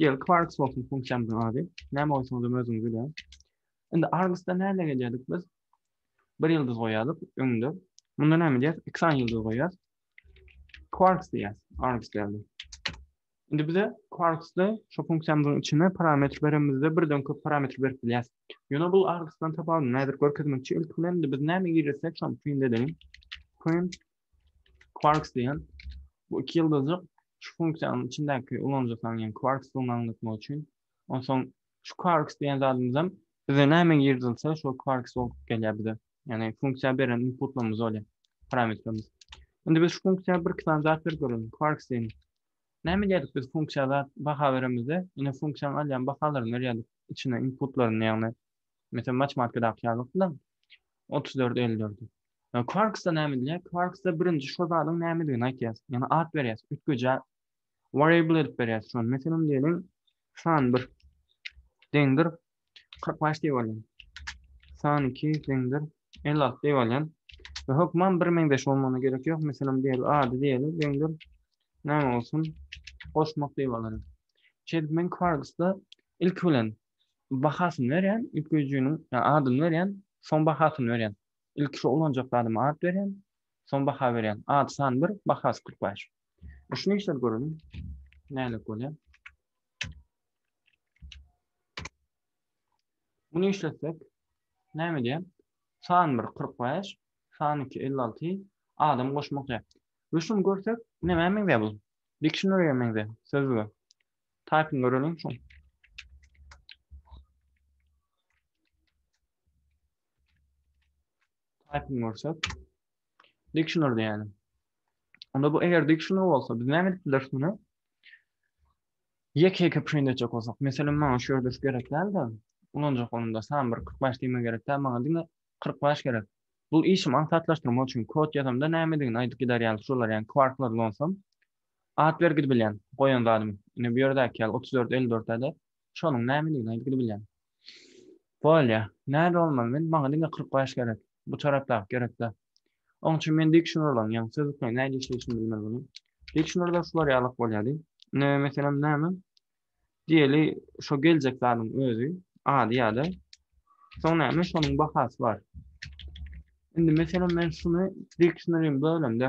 Gel Quarks bolsun funksiýamyzyň ady. Näme goýsaňyzam özüňiz bilýäň. Indi Argusda näme gelýärdik biz? Bir ýyldyz goýýardyk öňde. Munda näme edýäris? Iki sany ýyldyz goýýarys. Quarks diýýäris. Argus geldi. Indi bize Quarksda şu funksiýamyzyň içine parametr beremizde birden köp parametr berip bilýäris. Ýöne bu Argusdan tapawudyny häzir görkezmekçi. Ilki bilen biz näme girizsek şony print edelim. Print Quarks diýen bu iki ýyldyzjyk şu funksiýanyň içindäki ulanyja salynýan quarks suwuny aňlatmak üçin. Onsoň şu quarks diýen zadymyz hem bize näme girdilse şol quarks bolup gelýär bize. Ýagny funksiýa beren inputlarymyz bolýar, parametrimiz. Indi biz şu funksiýa bir iki sany zat berip görelim. Quarks diýen. Näme edýärdik biz funksiýa zat baha beremizde, ine funksiýanyň alýan bahalaryny berýärdik içine inputlaryny ýagny meselem matematikadaky ýaly 34 54. Ýa Quarks-da näme edilýär? Quarks-da birinji şo zadyň nämedigini aýtýas, ýagny at berýäs, üýtgejä variable edip berýäs şony. Meselem diýeliň, san bir deňdir kyrk bäş diýip alýan. San iki deňdir elli alty diýip alýan. We hökman bir meňzeş bolmagyna gerek ýok. Meselem diýeli ady diýeli deňdir näme bolsun? Goşmak diýip alaryn. Şeýdip men Quarks-da ilki bilen bahasyny berýän, üýtgejiniň adyny berýän, soň bahasyny berýän. Ilki şu ulanjak zadyma at berýän, soň baha berýän. At san bir, bahasy kyrk bäş. Şuny işläp göreliň. Nälik bolýar? Muny işletsek, näme diýär? San bir, kyrk bäş, san iki, elli alty, adam goşmak diýär. We şuny görsek, nämä meňzär bu? Dikşineriýa meňzär, sözlüge. Taýpyny göreliň şuň. Typing görsek. Dictionary diýelim. Onda bu eger dictionary bolsa biz näme edip bileris muny? Ýeke-ýeke print etjek bolsak, meselem maňa şu ýerde şu gerek däl de, ulanjak bolanda sam bir 45 diýme gerek däl, maňa diňe 45 gerek. Bu işim aňsatlaşdyrmak üçin kod ýazamda nämedigini aýdyp gider ýaly şolar ýaly kwarklar ulansam at berip gidip bilýän goýan zadymy. Ine bu ýerdäki ýaly 34 54 däde Şonuň nämedigini aýdygly bilýän. Bolýa. Nädip bolmaz, men, maňa diňe kyrk bäş gerek. Bu tarapdaky gerek-dä. Oň üçin men dikşnorlaň, ýagny sözlükleriň nädip işleýşini bilmeli boldum. Dikşnorda şular ýalyk bolýardy. Ine, meselem, näme? Diýeli, şo geljek zadyň özi, ady ýa-da. Soň näme? Şonuň bahasy bar. Indi, meselem, men şuny dikşnorym bölemde.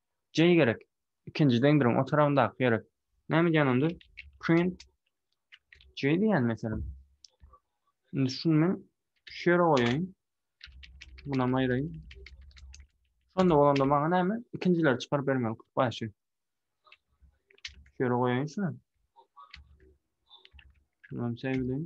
J gerek. Ikinji deňdiriň o tarabyndaky gerek. Näme edýän onda? Print J diýýän meselem. Indi şuny men şu ýere goýaýyn. Munam aýraýyn. Şonda bolanda maňa näme? Ikinjileri çykaryp bermeli kut başy. Şu ýere goýaýyn şuny. Şunam seýleýin.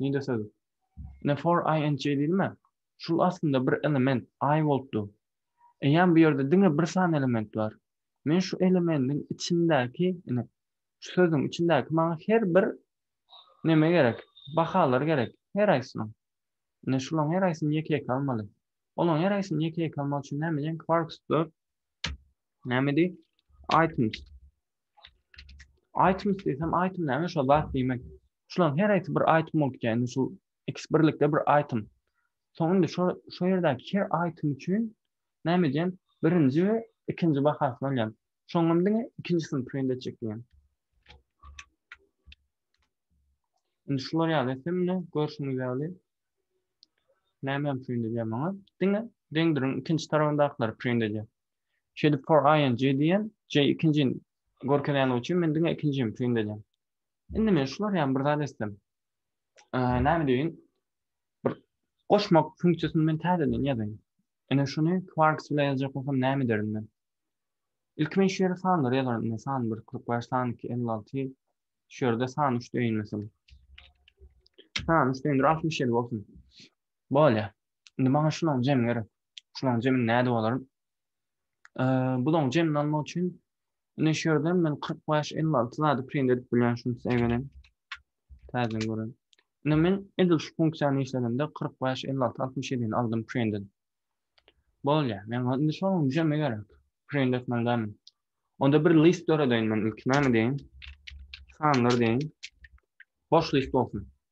Nide söz. Ne for ing diýme. Şul aslynda bir element i bolupdy. Eýýäm bu ýerde diňe bir sany element bar. Men şu elemendiň içindäki, ine, şu sözüň içindäki maňa her bir neme gerek? Bahalar gerek. Her aýsynyň. Ine şulaň her aýsyny ýeke-ýeke almaly. Olaň her aýsyny ýeke-ýeke almak üçin näme diýen? Quarks dot näme diý? Items. Item diýsem, item näme şo zat diýmek. Şularyň her aýsy bir item bolup geldi. Şu ikisi birlikde bir item. Soň indi şu şu ýerdäki her item üçin näme edýän? Birinji we ikinji bahasyny alýan. Şoňa diňe ikinjisini print etjek diýen. Indi şular ýaly hemme görşüňiz ýaly näme print edýär maňa? Diňe deňdiriň ikinji tarapyndakylary print edýär. Şeýdip for i and j diýen, j ikinjini görkezýänligi üçin men diňe ikinjini print edýän. Indi men şular ýaly bir zat etsem. Näme diýin? Bir goşmak funksiýasyny men täzeden ýazaýyn. Ene şuny Quarks bilen ýazjak bolsam näme ederin men? Ilki men şu ýere sanlary ýazaryn. Ine san 1, 45, san 2, 56. Şu ýerde san 3 deýin meselem. San 3 deýin, 67 bolsun. Bolýa. Indi maňa şunuň jemi gerek. Şularyň jemini nädip alaryn? Bularyň jemini almak üçin indi şu ýerden men 45-56 zady print edip bilýän şuny size gelen. Täzeden gören. Indi men edil şu funksiýany işledimde 45-56-67-ni aldym print edip. Bolýar. Men indi şonuň jemi gerek. Print etmelidämin. Onda bir list döredeýin men ilki näme deýin? Sanlar deýin. Boş list bolsun.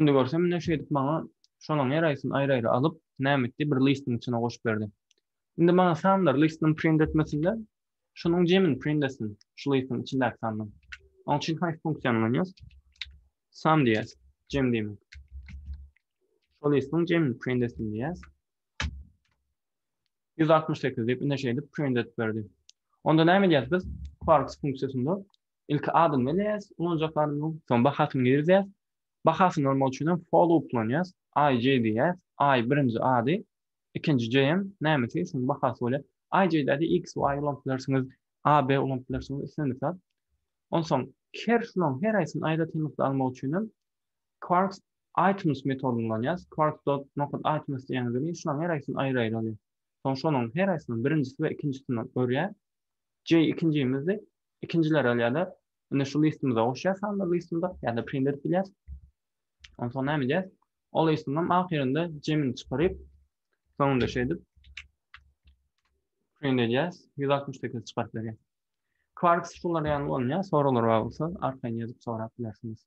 Indi görsem ine şeýdip maňa şolaň her aýsyny aýry-aýry alyp, näme etdi, bir listyň içine goşup berdi. Indi maňa sanlar listyny print etmesin-de, şunuň jemini print etsin, şu listyň içindäki sanlar. Oň üçin haýsy funksiýany ulanýas? Sum diýýäs, jem diýmek. Şol listyň jemini print etsin diýýäs. 168 diýip, ine şeýdip print edip berdi. Onda näme edýäs biz? Quarks funksiýasynda Ilki adyny belleýäs, ulanjak adyny, soň bahasyny girizýäs. Bahasyny almak üçin hem for loop ulanýas. IJ diýýäs. I birinji ady, ikinji JM nämesi, şonuň bahasy bolýar. IJ-däde X, Y ulanyp bilersiňiz, AB ulanyp bilersiňiz, islendik zat. Onsoň her şularyň her haýsyny aýratynlykda almak üçin hem Quarks items metodyny ulanýas. Quarks dot nokat items diýýän welin şularyň her haýsyny aýry-aýry alýar. Soň şonuň her haýsynyň birinjisi we ikinjisini örýär. J ikinjimizdi, ikinjileri alýarlar. Indi şu listimize goşýar sanlar listimize, ýa-da print edip bilýär. Ondan soň näme edýär? Ol listiňem ahyrynda jemini çykaryp, soňunda şeýdip edip print edýär, 168 çykaryp berýär. Quark şular ýaly bolýar, soralar bar bolsa arkaýyn ýazyp sorap bilersiňiz.